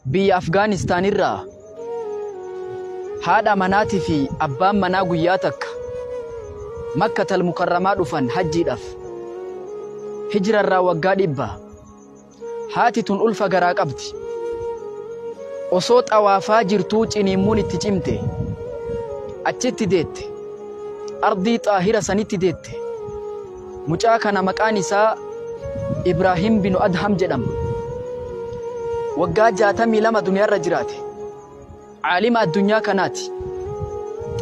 Biyya Afgaanistaan irraa haadha manaatii fi abbaan manaa guyyaa takka Makkatal Mukarramaa dhufan hajjiidhaaf. Hijra irraa waggaa dhibba. Haati tun ulfa garaa qabdi. Osoo xawaafaa jirtuu ciniimmuun itti cimte. Achitti deette. Ardii xaahira sanitti deette. Mucaa kana maqaan isaa Ibraahim binu Adham jedhama. Waggaa 62 duniyaarra jiraate. Caalima addunyaa kanaati.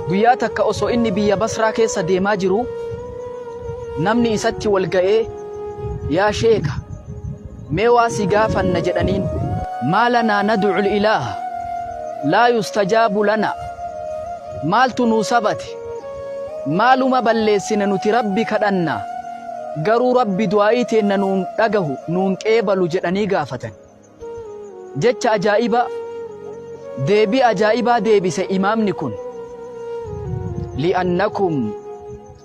Guyyaa takka osoo inni biyya Basraa keessa deemaa jiru namni isatti wal ga'ee yaa sheeka Mee waa si gaafanna jedhaniin. Maa lanaa nadu'ul ilaaha laa yustajaabu lanaa Maaltu nuu sabate? Maaluma balleessine nuti Rabbi kadhanna, garuu Rabbi du'aa'ii teenna nu hin dhagahu, nu hin qeebalu jedhanii gaafatan. Jecha ajaa'ibaa, deebii ajaa'ibaa deebise imaamni kun. Li'annakum.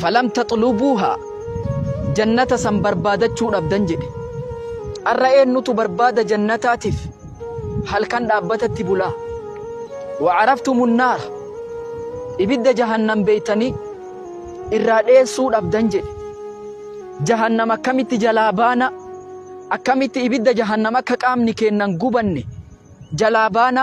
Falam taxlubuuhaa, Jannata san barbaadachuu dhabdan jedhe. Arra eennutu barbaada Jannataatiif halkan dhaabbatatti bulaa? Wa caraftumu nnaara, Ibidda Jahannam beeytanii irraa dheessuu dhabdan jedhe. Jahannam akkamitti jalaa baana? Akkamitti ibidda Jahannam akka qaamni keenna hin gubanne jalaa baana?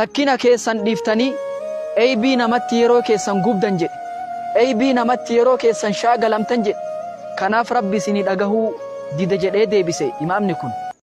Rakkina keessan dhiiftanii Eybii namatti yeroo keessan gubdan jedhe Eybii namatti yeroo keessan shaagalamtan jedhe kanaaf rabbi isinii dhagahuu dide jedhee deebise imaamni kun.